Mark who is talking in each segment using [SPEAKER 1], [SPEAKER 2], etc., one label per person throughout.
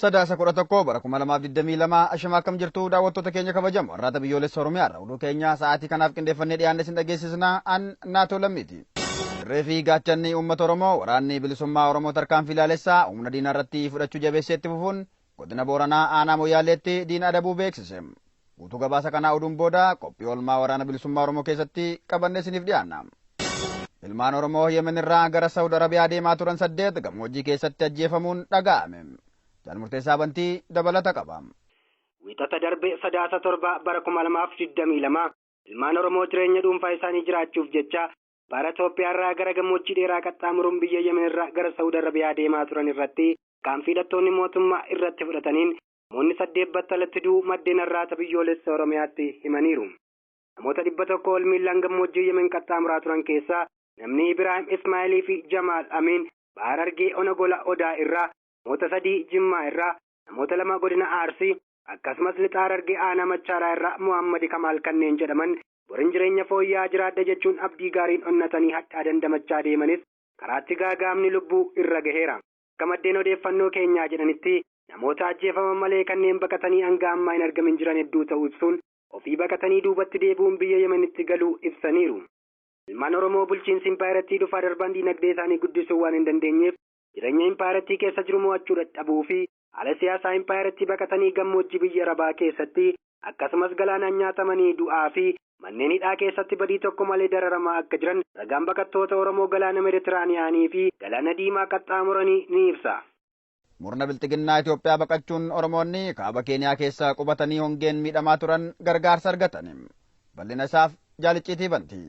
[SPEAKER 1] sadaasa kudha tokko bara kuma lamaaf digdamii lama ashama akkam jirtu daawwattoota keenya kabajamu warraata biyyoolessa oromiyaa irra oduu keenya sa'aatii kanaaf qindeeffannee dhiyaanne isin dhageessisna an naatoo lammiiti. Dirree fi gaachanni uummata Oromoo waraanni bilisummaa Oromoo tarkaanfii laalessaa humna diinaa irratti fudhachuu jabeessee itti fufuun Godina Booranaa Aanaa Moyyaaleetti diina adabuu beeksise. Guutuu gabaasa kanaa oduun booda qophii oolmaa waraana bilisummaa Oromoo keessatti qabannee isiniif dhiyaanna. Ilmaan Oromoo Yemen irraa gara Saawud Arabiyaa deemaa turan saddeet gammoojjii keessatti ajjeefamuun dhaga'ame. Jaal Murteessaa Bantii dabalata qaba. Wixata
[SPEAKER 2] darbe Sadaasa torba bara 2022 ilmaan Oromoo jireenya dhuunfaa isaanii jiraachuuf jecha Bara Itoophiyaa irraa gara gammoojjii dheeraa qaxxaamuruun biyya Yemen irraa gara Sa'ud Arabiyaa deemaa turan irratti tarkaanfii hidhattoonni mootummaa irratti fudhataniin namoonni saddeet battalatti du'uu maddeen Arraata Biyyoolessa Oromiyaatti himaniiru. Namoota 100 ol miillaan gammoojjii Yemen qaxxaamuraa turan keessaa namni Ibiraahim Ismaa'ilii fi Jamaal Amiin Baha Harargee Ona Gola Odaa irraa, namoota sadii Jimmaa irraa, namoota lama Godina Arsii, akkasumas Lixa Harargee Aanaa Machaaraa irraa Mohaammadi Kamaal kanneen jedhaman borin jireenya fooyya'aa jiraadha jechuun abdii gaariin onnatanii hadhaa dandamachaa deemanis karaatti gaaga'amni lubbuu irra gaheera. Akka maddeen odeeffannoo keenyaa jedhanitti namoota ajjeefaman malee kanneen baqatanii hanga ammaa hin argamin jiran hedduu ta'uu ibsuun ofii baqatanii duubatti deebi'uun biyya Yemenitti galuu ibsaniiru. Ilmaan Oromoo bulchiinsi impaayerattii dhufaa darban diinagdee isaanii guddisuu waan hin dandeenyeef jireenya impaayerattii keessa jiru mo'achuu dadhabuu fi Haala siyaasaa impaayerattii baqatanii gammoojjii biyya Arabaa keessatti akkasumas galaanaan nyaatamanii du'aa fi manneen hidhaa keessatti badii tokko malee dararamaa akka jiran ragaan baqattoota Oromoo galaana Meditiraaniyaanii fi galaana Diimaa qaxxaamuranii ni ibsa. Murna
[SPEAKER 1] bilxiginnaa Itoophiyaa baqachuun Oromoonni kaaba Keeniyaa keessa qubatanii hongeen miidhamaa turan gargaarsa argatani. Bal'ina isaaf Jaal Icciitii Bantii.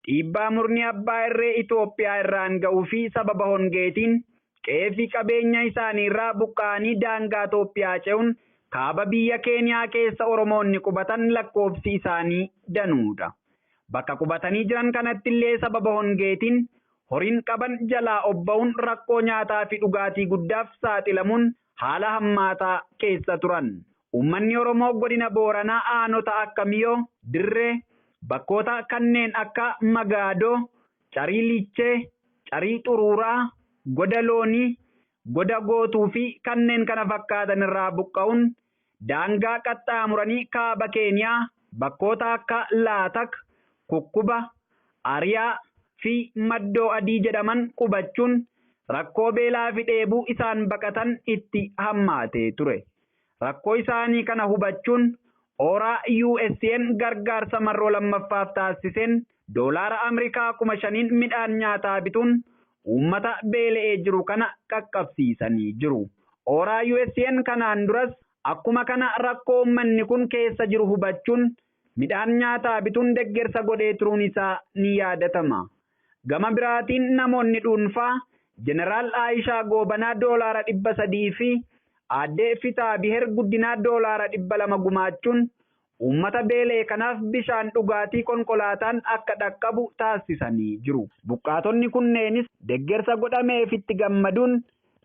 [SPEAKER 3] dhiibbaa murni abbaa irree Itoophiyaa irraan ga'uu fi sababa hongeetiin qe'ee fi qabeenya isaanii irraa buqqa'anii daangaa Itoophiyaa ce'uun kaaba biyya Keeniyaa keessa Oromoonni qubatan lakkoofsi isaanii danuu dha. Bakka qubatanii jiran kanatti illee sababa hongeetiin horiin qaban jalaa obba'uun rakkoo nyaataa fi dhugaatii guddaaf saaxilamuun haala hammaataa keessa turan. Uummanni Oromoo Godina Booranaa Aanota akka Miyoo, Dirree, bakkoota kanneen akka Magaadoo, Carii Lichee, Carii Xuruuraa, Goda Loonii, Goda Gootuu fi kanneen kana fakkaatan irraa buqqa'uun Daangaa qaxxaamuranii kaaba Keeniyaa bakkoota akka Laatak, Kukkuba, Ariyaa, fi Maddoo Adii jedhaman qubachuun rakkoo beelaafi dheebuu isaan baqatan itti hammaatee ture. Rakkoo isaanii kana hubachuun Ooraa USA'n gargaarsa marroo lammaffaaf taassiseen doolaara Amrikaa kuma shaniin midhaan nyaataa bituun uummata beela'ee jiru kana qaqqabsiisanii jiru. Ooraa USA'n kanaan duras akkuma kana rakkoo uummanni kun keessa jiru hubachuun midhaan nyaataa bituun deggersa godhee turuun isaa ni yaadatama. Gama biraatiin namoonni dhuunfaa Jeneraal Aayishaa Goobanaa doolaara 300 fi Aadde Fitaabiher Guddinaa doolaara 200 gumaachuun Uummata beela'e kanaaf bishaan dhugaatii konkolaataan akka dhaqqabu taassisanii jiru. Buqqaatonni kunneenis deggersa godhameefitti gammaduun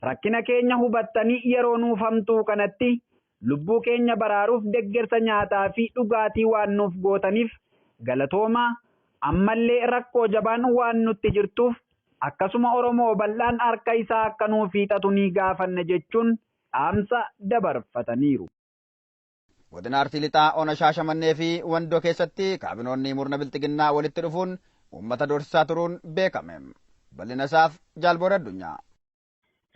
[SPEAKER 3] rakkina keenya hubattanii yeroo nuuf hamtuu kanatti lubbuu keenya baraaruuf deggersa nyaataa fi dhugaatii waan nuuf gootaniif galatoomaa, ammallee rakkoo jabaan waan nutti jirtuuf akkasuma Oromoo bal'aan harka isaa akka nuuf hiixatu ni gaafanna jechuun dhaamsa dabarfataniiru.
[SPEAKER 1] Godina Arsii Lixaa Ona Shaashamannee fi Wandoo keessatti kaabinoonni murna bilxiginnaa walitti dhufuun uummata doorsisaa turuun beekame. Bal'ina isaaf Jaalboor Addunyaa.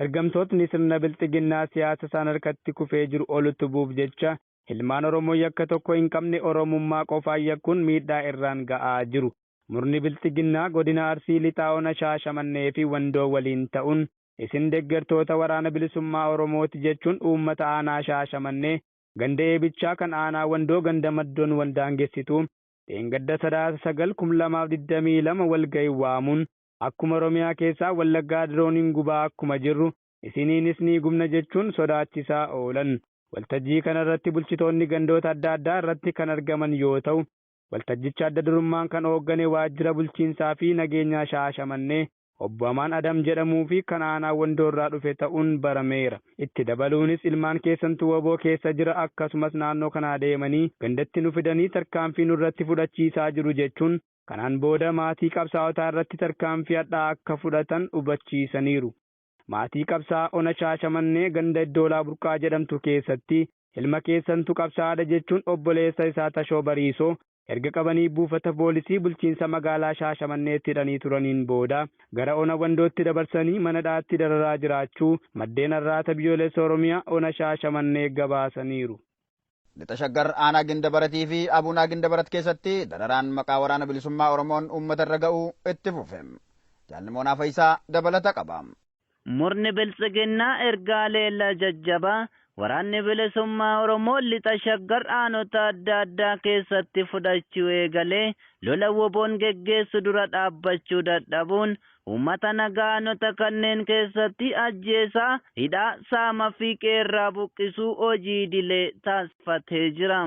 [SPEAKER 1] Ergamtootni
[SPEAKER 4] sirna bilxiginnaa siyaasa isaan harkatti kufee jiru ol utubuuf jecha ilmaan Oromoo yakka tokko hin qabne Oromummaa qofaan yakkuun miidhaa irraan ga'aa jiru. Murni bilxiginnaa godina Arsii Lixaa Ona Shaashamannee fi Wandoo waliin ta'uun isin deggertoota Waraana Bilisummaa Oromooti jechuun uummata aanaa Shaashamannee ganda Eebichaa kan aanaa Wandoo ganda Maddoon wal daangessitu dheengadda Sadaasa 9,2022 walgahii waamuun akkuma Oromiyaa keessaa Wallaggaa dirooniin gubaa akkuma jirru isiniinis ni gubna jechuun sodaachisaa oolan. Waltajjii kana irratti bulchitoonni gandoota adda addaa irratti kan argaman yoo ta'u, waltajjicha adda durummaan kan ooggane Waajjira Bulchiinsaa fi Nageenyaa Shaashamannee Obbo Amaan Adam jedhamuu fi kan aanaa Wandoo irraa dhufe ta'uun barameera. Itti dabaluunis ilmaan keessantu wbo keessa jira akkasumas naannoo kanaa deemanii gandatti nu fidanii tarkaanfii nurratti fudhachiisaa jiru jechuun kanaan booda maatii qabsaa'otaa irratti tarkaanfii hadhaa akka fudhatan hubachiisaniiru. Maatii qabsaa'aa ona Shaashamannee ganda Iddoolaa Burqaa jedhamtu keessatti ilma keessantu qabsaa'aadha jechuun obboleessa isaa Tashoo Bariisoo erga qabanii buufata poolisii bulchiinsa magaalaa Shaashamanneetti hidhanii turaniin booda gara Ona Wandootti dabarsanii mana hidhaatti dararaa jiraachuu maddeen Arraata Biyyoolessa Oromiyaa Ona Shaashamannee gabaasaniiru. Lixa
[SPEAKER 1] Shaggar Aanaa Gindabarat fi Abunaa Gindabarat keessatti dararaan maqaa Waraana Bilisummaa Oromoon uummata irra ga'u itti fufe. Jaal Nimoonaa Fayisaa dabalata qaba. Murni
[SPEAKER 5] Biltsiginnaa erga haleellaa jajjabaa Waraanni Bilisummaa Oromoo Lixa Shaggar aanota adda addaa keessatti fudhachuu eegalee lola WBOn geggeessu dura dhaabbachuu dadhabuun uummata nagaa aanota kanneen keessatti ajjeesaa, hidhaa, saama fi qe'eerraa buqqisuu hojii idilee taasifatee jira.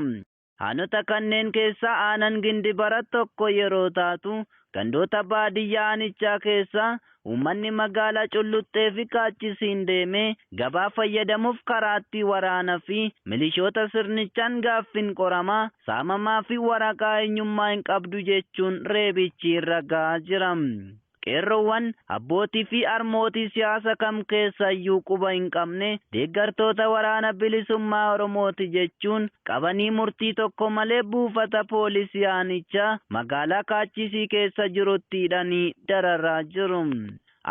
[SPEAKER 5] Aanota kanneen keessaa aanan Gindibarat tokko yeroo taatu, gandoota baadiyyaa aanichaa keessaa uummanni magaalaa Culluxxeefi Kaachisiin deemee gabaa fayyadamuuf karaatti waraanafi milishoota sirnichaan gaaffiin qoramaa, saamamaafi waraqaa eenyummaa hin qabdu jechuun reebichi irra gahaa jira. Qeerroowwan, abbootii fi harmootii siyaasa kam keessayyuu quba hin qabne deeggartoota Waraana Bilisummaa Oromooti jechuun qabanii murtii tokko malee buufata poolisii aanichaa magaalaa Kaachisii keessa jirutti hidhanii dararaa jiru.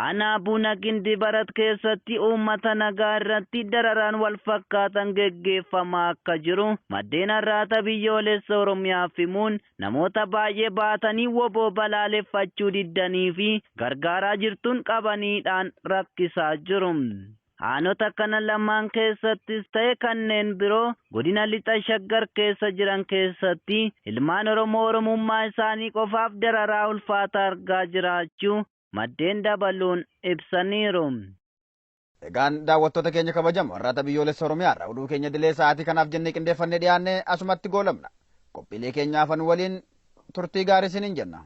[SPEAKER 5] Aanaa Buna Gindibarat keessatti uummata nagaa irratti dararaan wal fakkaatan geggeeffamaa akka jiru maddeen Arraata Biyyoolessa Oromiyaaf himuun, Namoota baay'ee baatanii wbo balaaleffachuu diddanii fi gargaaraa jirtuun qabaniidhaan rakkisaa jiru. Aanota kana lamaan keessattis ta'e kanneen biroo godina Lixa Shaggar keessa jiran keessatti ilmaan Oromoo Oromummaa isaanii qofaaf dararaa ulfaataa argaa jiraachuu maddeen dabaluun ibsaniiru.
[SPEAKER 1] Egaan daawwattoota keenya kabajamoo har'aata biyyoolessa Oromiyaa irraa oduu keenya dilee sa'aatii kanaaf jennee qindeeffannee dhiyaanne asumatti goolabna. Qophiilee keenya hafan waliin turtii gaarii isiniin jenna.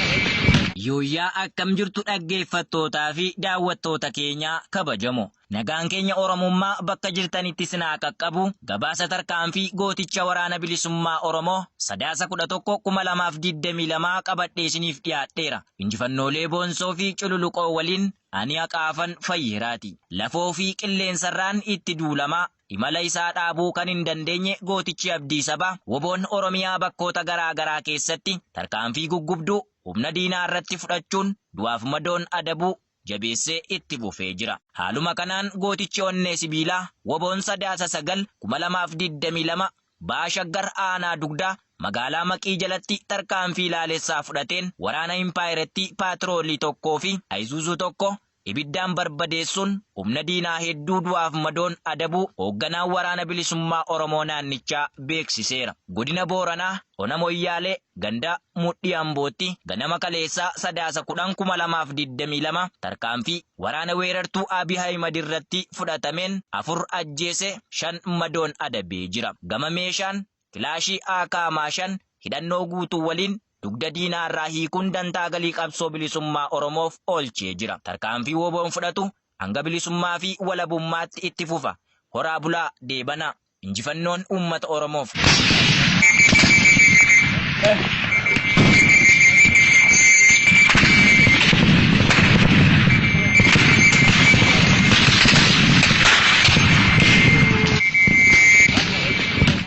[SPEAKER 6] Yooyyaa akkam jirtu dhaggeeffattootaa fi daawwattoota keenya kabajamo. Nagaan keenya Oromummaa bakka jirtanitti isin haa qaqqabu. Gabaasa tarkaanfii gooticha Waraana Bilisummaa Oromoo Sadaasa 11,2022 qabadhee isiniif dhiyaadheera. Injifannoolee boonsoo fi cululuqoo waliin ani haqaafan fayyeeraati. Lafoo fi qilleensarraan itti duulamaa. Imala isaa dhaabuu kan hin dandeenye gootichi Abdii Sabaa, WBOn Oromiyaa bakkoota garaa garaa keessatti tarkaanfii guggubduu humna diinaa irratti fudhachuun du'aaf madoon adabuu jabeessee itti fufee jira. Haaluma kanaan gootichi onnee sibiilaa WBOn Sadaasa 9, 2022 Baha Shaggar Aanaa Dugdaa magaalaa Maqii jalatti tarkaanfii laalessaa fudhateen waraana impaayerattii paatiroolii tokkoo fi Ayzuuzuu tokko Ibiddaan barbadeessuun humna diinaa hedduu du'aaf madoon adabuu hoogganaan Waraana Bilisummaa Oromoo naannichaa beeksiseera. Godina Booranaa Ona Moyyaalee ganda Mudhii Ambootti ganama kaleessaa Sadaasa 10,2022 tarkaanfii waraana weerartuu Abiy Ahimad irratti fudhatameen 4 ajjeese 5 madoon adabee jira. Gama meeshaan Kilaashii AK-5 hidhannoo guutuu waliin dugda diinaa irraa hiikuun dantaa galii qabsoo bilisummaa Oromoof oolchee jira. Tarkaanfii wbo-n fudhatu hanga bilisummaa fi walabummaatti itti fufa. Horaa bulaa, deebanaa! Injifannoon uummata Oromoof!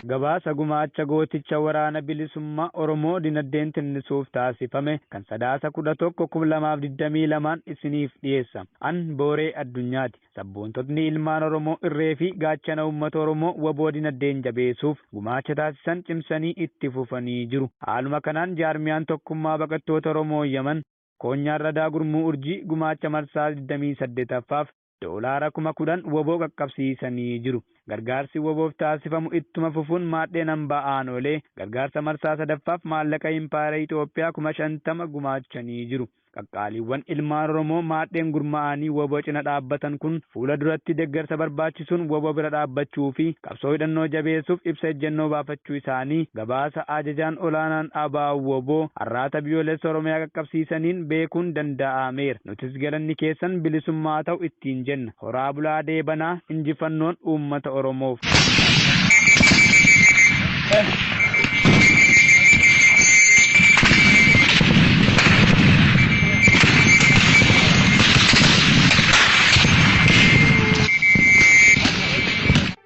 [SPEAKER 4] Gabaasa Gumaacha Gooticha Waraana Bilisummaa Oromoo. Bilisummaa Oromoo Dinaddeen Tinnisuuf Taasifame Kan Sadaasa 11, 2022n Isiniif Dhiyeessa. An Booree Addunyaati. Sabboontotni Ilmaan Oromoo Irree fi Gaachana Uummata Oromoo wbo Dinaddeen Jabeesuuf Gumaacha Taasisan Cimsanii Itti Fufanii Jiru. Haaluma Kanaan Jaarmiyaan Tokkummaa Baqattoota Oromoo Yaman, Koonyaan Radaa Gurmuu Urjii Gumaacha Marsaa 28ffaaf Doolaara kuma 10 wbo qaqqabsiisanii jiru. Gargaarsi wbof taasifamu ittuma fufuun maadheen hambaa aanoolee gargaarsa marsaa 3ffaaf maallaqa Impaayera Itoophiyaa kuma 50 gumaachanii jiru. Qaqqaaliiwwan ilmaan Oromoo maadheen gurmaa'anii wbo cina dhaabbatan kun fuula duratti deggarsa barbaachisuun wbo bira dhaabbachuu fi qabsoo hidhannoo jabeessuuf ibsa ejjennoo baafachuu isaanii gabaasa Ajajaan Olaanaan abo-wbo Arraata Biyyoolessa Oromiyaa qaqqabsiisaniin beekuun dandaa'ameera. Nutis galanni keessan bilisummaa haa ta'u ittiin jenna. Horaa bulaa deebanaa. Injifannoon uummata Oromoof.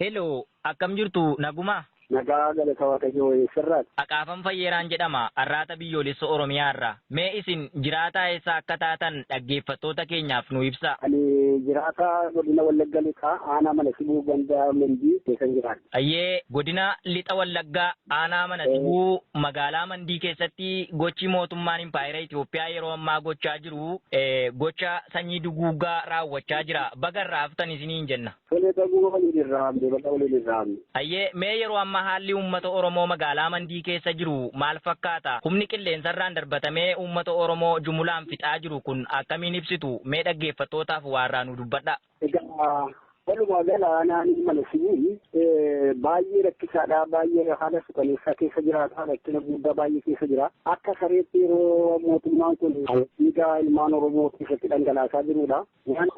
[SPEAKER 6] Hello, akkam jirtu nagumaa? Nagaa galata
[SPEAKER 7] waaqayyoo eessarraati? Aqaafan Fayyeeraan
[SPEAKER 6] jedhama arraata biyyoolessa Oromiyaa irraa. Mee isin jiraataa eessaa akka taatan dhaggeeffattoota keenyaaf nu ibsaa. Ani jiraataa
[SPEAKER 7] godina Wallagga Lixaa aanaa mana sibuu ganda Mendii keessan jiraadha. Hayyee Godina
[SPEAKER 6] Lixa Wallaggaa Aanaa Mana Sibuu Magaalaa Mandii keessatti gochi mootummaan Impaayera Itoophiyaa yeroo ammaa gochaa jiru gocha sanyii duguuggaa raawwachaa jira. Baga irraa haftan isiniin jenna. Tole baguma waliin
[SPEAKER 7] irraa hafne baga waliin irraa hafne. Hayyee mee yeroo
[SPEAKER 6] ammaa haalli uummata Oromoo magaalaa Mandii keessa jiru maal fakkaata? Humni qilleensarraan darbatamee uummata Oromoo jumulaan fixaa jiru kun akkamiin ibsitu? Mee dhaggeeffattootaaf waa irraa nuu dubbadhaa. Egaa
[SPEAKER 7] walumaa gala aanaan ilma nasibii baay'ee rakkisaadha baay'ee haala sukaneessaa keessa jiraata rakkina guddaa baay'ee keessa jira akka sareetti yeroo mootummaan kun dhiigaa ilmaan oromoo keessatti dhangalaasaa jirudha waan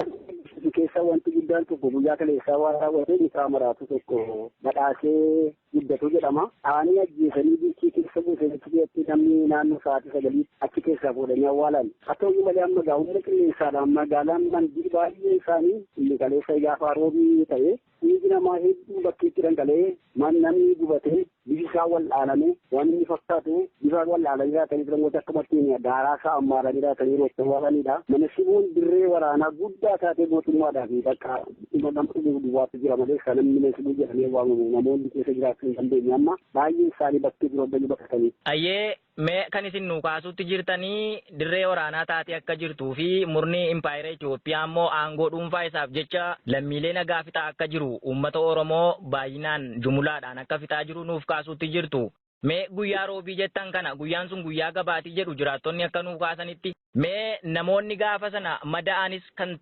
[SPEAKER 7] keessa wanti guddaan tokko guyyaa kaleessaa waan raawwatee mucaa maraatu tokko badhaasee Guddatu jedhama. Dhahanii ajjeesanii biichii keessa buusan achi keessatti namni naannoo sa'aatii sagaliitti achi keessaa fuudhanii awwaalan. Haa ta'u iyyuu malee amma egaa humna qilleensaadhaan magaalaan Mandii baay'een isaanii inni kaleessa gaafa roobii ta'e dhiigi namaa hedduun bakkeetti dhangala'ee namni gubatee bifi isaa wal'aaname waan inni fakkaatu bifa wal'aananii jiraatanii turan gosa akkamattiin daaraa isaa ammaaranii jiraatanii roottan waanidha. Mana shiboon dirree waraanaa guddaa taatee mootummaadhaa fi bakka dhuma nama dhumuuf duwwaatu jira malee kan namni mana hidhaa jedhamee waamamu namoonni keessa jiraachuu hin dandeenye amma baay'een isaanii bakkee biroo bayyuu baqatanii. Hayyee mee
[SPEAKER 6] kan isin nuu kaasuutti jirtanii dirree waraanaa taatee akka jirtuu fi murni impaayera Itoophiyaa immoo aangoo dhuunfaa isaaf jecha lammiilee nagaa fixaa akka jiru uummata Oromoo baay'inaan jumulaadhaan akka fixaa jiru nuuf kaasuutti jirtu. Mee guyyaa Roobii jettan kana guyyaan sun guyyaa gabaati jedhu jiraattonni akka nuu kaasanitti. Mee namoonni gaafa sana mada'anis kan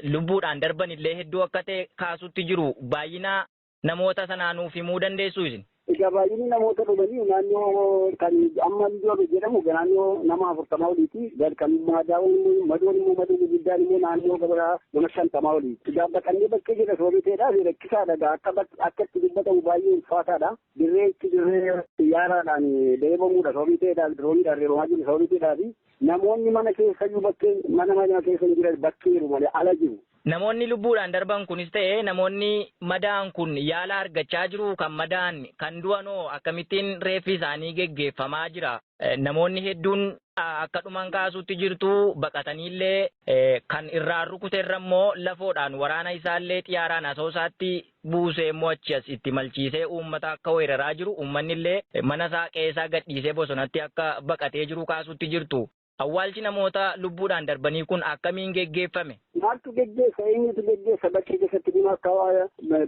[SPEAKER 6] lubbuudhaan darban illee hedduu akka ta'e kaasuutti jiru. Baay'ina namoota sanaa nuuf himuu dandeessuu isin? Egaa baay'inni namoota
[SPEAKER 7] dhumanii naannoo kan amma Midoobe jedhamu naannoo nama afurtamaa oliiti. Kan madaa'uun immoo madoon immoo madoon guddaan immoo naannoo gabara nama shantamaa oliiti. Egaa baqannee bakkee jirra sooriteedhaaf rakkisaadha. Egaa akka akka itti dubbatamu baay'ee ulfaataadha. Dirree itti dirree xiyyaaraadhaan reebamuudha sababii ta'eedhaaf dirooniidhaan reebamaa jiru sababii ta'eedhaafi namoonni mana keessayyuu bakkeen mana mana keessa hin jiran bakkeeru malee ala jiru. Namoonni
[SPEAKER 6] lubbuudhaan darban kunis ta'e namoonni madaa'an kun yaala argachaa jiruu? Kan madaa'an, kan du'anoo akkamittiin reeffi isaanii geggeeffamaa jira? Namoonni hedduun akka dhuman kaasuutti jirtu, baqataniillee kan irraan rukute irra immoo lafoodhaan waraana isaallee xiyaaraan asoosaatti buusee immoo achi as itti malchiisee uummata akka weeraraa jiru, uummannillee mana isaa qe'ee isaa gadhiisee bosonatti akka baqatee jiru kaasuutti jirtu. Awwaalchi namoota lubbuudhaan darbanii kun akkamiin geggeeffame? Maaltu geggeessa?
[SPEAKER 7] Eenyutu geggeessa? Bakkee keessatti kun akka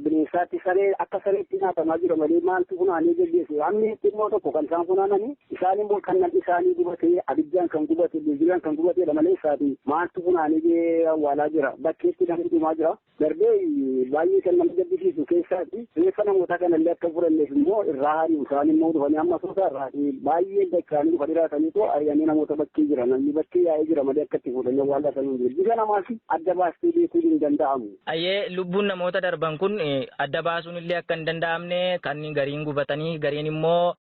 [SPEAKER 7] bineensaatti saree akka sareetti nyaatamaa jira malee maaltu funaanee geggeessu? Hammi xinnoo tokko kan isaan funaananii isaan immoo kan namni isaanii gubatee abiddaan kan gubate bilbilaan kan gubateedha malee isaati maaltu funaanee awwaalaa jira? Bakkeetti namni dhumaa jira. Darbee baay'ee kan nama gaddisiisu keessaatti Reeffa namootaa kanallee akka hin fudhanneef immoo irraa hari'u. Isaan immoo dhufanii amma Asoosaa irraatii baay'een dacha'anii dhufanii raataniitoo ari'anii namoota bakkee jiran namni bakkee yaa'ee jira malee akka itti fuudhanii awwaalaa sana hin jiru. Bifa namaas adda baastee beekuun hin danda'amu. Ayyee lubbuun
[SPEAKER 6] namoota darban kun adda baasuun illee akka hin danda'amne kan gariin gubatanii gariin immoo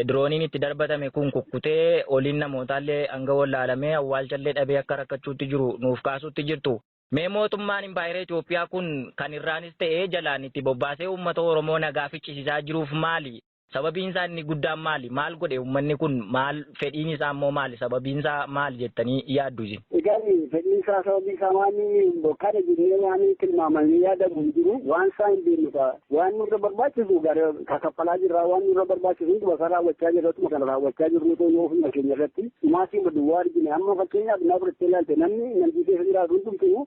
[SPEAKER 6] dirooniin itti darbatame kun kukkutee oliin namootaallee hanga wallaalamee awwaalchallee dhabee akka rakkachuutti jiru nuuf kaasuutti jirtu. Mee mootummaan impaayera Itoophiyaa kun kan irraanis ta'ee jalaan itti bobbaasee uummata Oromoo nagaa ficcisisaa jiruuf maali? Sababiin isaa inni guddaan maali? Maal godhe uummanni kun? Maal fedhiin isaa immoo maali? Sababiin isaa maali jettanii yaaddu isin? Egaa fedhiin isaa
[SPEAKER 7] sababii isaa waan kana jennee waan tilmaamamee yaadamu hin jiru. Waan isaa hin beeknu kaa. Waan nurra barbaachisu ka kaffalaa jirra waan nurra barbaachisu hunduma isaa raawwachaa jirra akkuma kana raawwachaa jirru ta'uu yoo ofuma keenya irratti dhumaatii maduwwaa argine amma fakkeenyaaf naa fudhattee ilaalte namni namni keessa jiraatu hundumtuu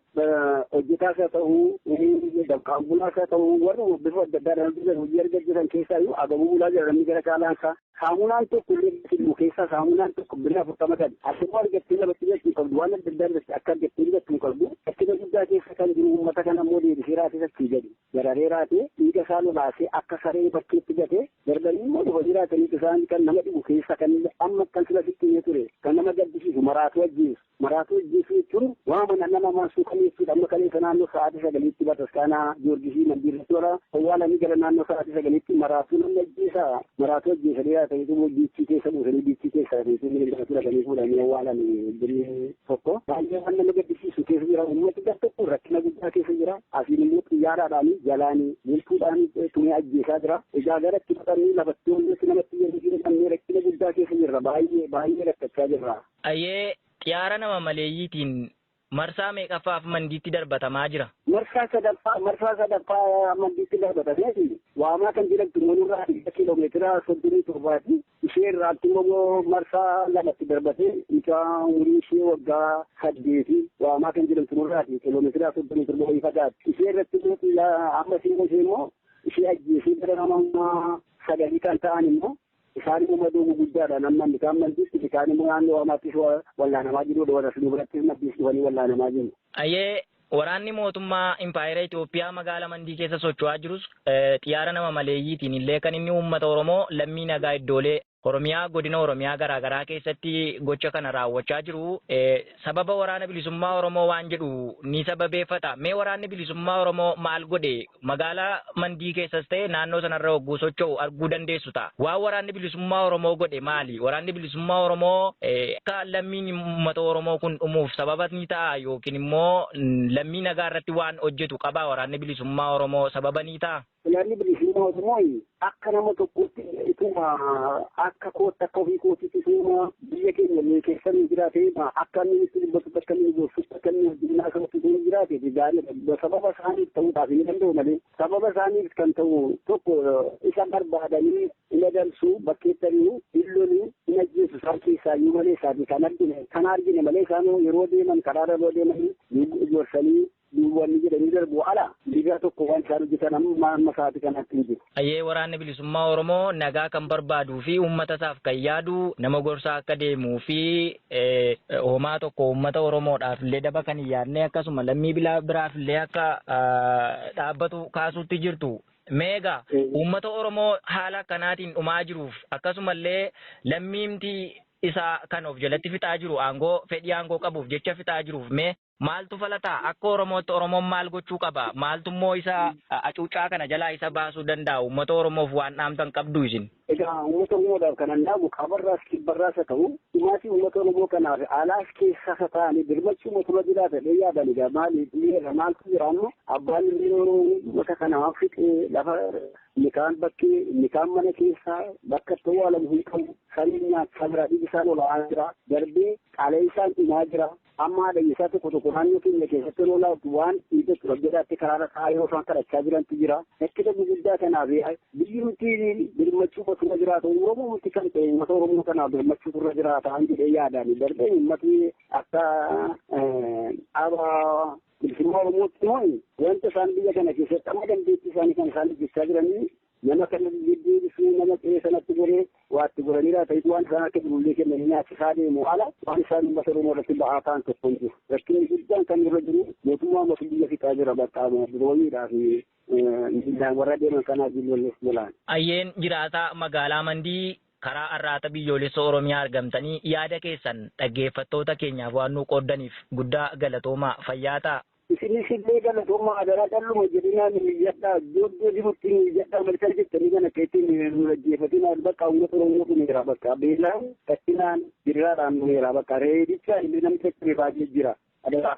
[SPEAKER 7] hojjetaas haa ta'uu dabqaan bulaas haa ta'uu warra bifa adda addaadhaan hojjetan hojii arga jiran keessaa iyyuu agabuu bulaa jira namni gara caalaan isaa saamunaan tokko illee filmu keessaa saamunaan tokko birrii afurtama kan asirraa argattee labattee jechuu qabdu waan adda addaa irratti akka argattee jechuu qabdu rakkina guddaa keessa kan jiru uummata kana immoo deebisee raasisachuu jedhu. dararee raatee dhiiga isaa lolaasee akka saree bakkeetti gatee darbanii immoo dhufanii raataniitu isaan kan nama dhibu keessa kan amma kan sila sitti himee ture kan nama gaddisiisu maraatuu ajjeesu maraatuu ajjeesuu jechuun waa mana nama maasuu kan jechuudha amma kaleessa naannoo sa'aatii sagaliitti bataskaanaa giyoorgisii mandiirratti warra awwaalanii gara naannoo sa'aatii sagaliitti maraatuu namni ajjeesa maraatuu ajjeesanii raataniitu immoo biichii keessa buusanii biichii keessa raataniitu inni maraatuu raatanii fuudhanii awwaalanii tokko baay'ee waan nama gaddisiisu keessa jira uummati gar tokko rakkina guddaa keessa jira asiin immoo xiyyaaraadhaani jalaani milkuudhaani tumee ajjeesaa jira egaa garatti baqannee lafattuu hundatti namatti yeroo jiru dhabnee rakkina guddaa keessa jirra baay'ee baay'ee rakkachaa jirra. Ayyee
[SPEAKER 6] xiyaara nama maleeyyiitiin marsaa meeqaffaaf mandiitti darbatamaa jira?
[SPEAKER 7] Marsaa sadaffaa marsaa sadaffaa mandiitti darbatameeti waamaa kan jedhamtu manurraa kiiloomeetira soddomii torbaati. Ishee irraatti immoo marsaa lamatti darbatee mucaa umurii ishee waggaa saddeeti waamaa kan jedhamtu nurraati kiiloomeetiraa soddomii torba wayii fagaatti. Ishee irratti immoo xiila amma ishee immoo ishee immoo ishee ajjeesee gara nama sagalii kan ta'an immoo isaan immoo madoo guguddaadhaan amma inni kaan maddiisti inni kaan immoo naannoo waamaattis wallaanamaa jiruudha warra asii birattis maddiis dhufanii wallaanamaa jiru. Hayyee,
[SPEAKER 6] waraanni mootummaa Impaayera Itoophiyaa magaala Mandii keessa socho'aa jirus xiyaara nama maleeyyiitiin illee kan inni uummata Oromoo lammii nagaa iddoolee Oromiyaa godina Oromiyaa garaa garaa keessatti gocha kana raawwachaa jiru sababa waraana bilisummaa Oromoo waan jedhu ni sababeeffata. Mee waraanni bilisummaa Oromoo maal godhe? Magaalaa Mandii keessas ta'e naannoo sanarra hogguu socho'u arguu dandeessu ta'a. Waan Waraanni Bilisummaa Oromoo godhe maali? Waraanni Bilisummaa Oromoo akka lammiin uummata Oromoo kun dhumuuf sababa ni ta'aa? Yookiin immoo lammii nagaa irratti waan hojjetu qabaa Waraanni Bilisummaa Oromoo sababa ni ta'a? Waraanni Bilisummaa
[SPEAKER 7] Oromoo Akka nama tokkootti ituma akka kootti akka ofii kootitti ituma biyya keenya illee keessa ni jiraate akka inni itti dubbatutti akka inni gorsutti akka inni hojjennaa sabatti ituma jiraate gaariidha. Sababa isaaniif ta'uudhaaf hin danda'u malee sababa isaaniif kan ta'u tokko isa barbaadanii hin adamsu bakkeettanii hin lolu hin ajjeesu isaan keessaa iyyuu malee isaati kan argine kan argine malee isaan yeroo deeman karaarra yeroo deeman gorsanii Duuba wanni jedhanii darbuu ala digaa tokko waan isaan hojjetan amma amma sa'aati kanaatti hin jiru. Ayyee Waraanni Bilisummaa
[SPEAKER 6] Oromoo nagaa kan barbaaduu fi uummata isaaf kan yaadu nama gorsaa akka deemuu fi homaa tokko uummata Oromoodhaaf illee daba kan hin yaadne akkasuma lammii biraaf illee akka dhaabbatu kaasuutti jirtu. Meega uummata Oromoo haala akkanaatiin dhumaa jiruuf akkasumallee lammiimti isaa kan of jalatti fixaa jiru aangoo fedhii aangoo qabuuf jecha fixaa jiruuf mee Maaltu fala ta'a? Akka Oromootti Oromoon maal gochuu qaba? Maaltummoo isa acuuccaa kana jalaa isa baasuu danda'a? Uummata Oromoof waan dhaamtan qabduu isin? Egaa uummata Oromoodhaaf
[SPEAKER 7] kanan dhaamu kaabarraas kibbarraas haa ta'u dhumaatii uummata Oromoo kanaaf alaas keessaas haa ta'anii birmachuuma tura jira jedhee yaadan egaa maali dhiyeera maaltu jira amma abbaan illee Oromoo uummata kana fixee lafa inni kaan bakkee inni kaan mana keessaa bakka itti awwaalamu hin qabu saniin nyaachaa jira dhiigisaan ola'aa jira darbee qaleessaan dhumaa jira Amma haadha isaa tokko tokko naannoo keenya keessatti yeroo laatu waan dhiiga tura jedhaatti karaarra taa'aa yeroo isaan kadhachaa jirantu jira. Rakkina gurguddaa kanaaf biyyi nuti birmachuu qotu irra jiraata. Oromoo nuti kan ta'e uummata Oromoo kanaaf birmachuu irra jiraata an jedhee yaadaan darbee uummati akka dhaaba bilisummaa Oromootti immoo wanta isaan biyya kana keessatti amma dandeettii isaanii kan isaan hojjechaa jiranii Nama kana gidduu dhufee nama qe'ee sanatti goree waa itti goranii laata itti waan isaan akka jirullee kennanii nyaachisaa deemu ala waan isaan uummata Oromoo irratti ba'aa ta'an tokko hin jiru. Rakkinni guddaan kan irra jiru mootummaa mootu biyya fixaa jira bakka birooyiidhaa fi miilaan warra deeman kanaa jilloollee jalaan. Ayyeen jiraataa
[SPEAKER 6] magaalaa Mandii karaa Arraata Biyyoolessa Oromiyaa argamtanii yaada keessan dhaggeeffattoota keenyaaf waan nuu qooddaniif guddaa galatoomaa fayyaa ta'aa. Isinis illee
[SPEAKER 7] galatoomaa hadaraa calluma jedhinaa nu iyyadhaa iddoo jirutti nu iyyadhaa malkan jettanii kan akka ittiin nu dhaggeeffatinaa bakka uummata Oromoo dhumeera bakka beelaan rakkinaan jirraadhaan dhumeera bakka reebichaan illee namni saccabee baay'ee jira hadaraa.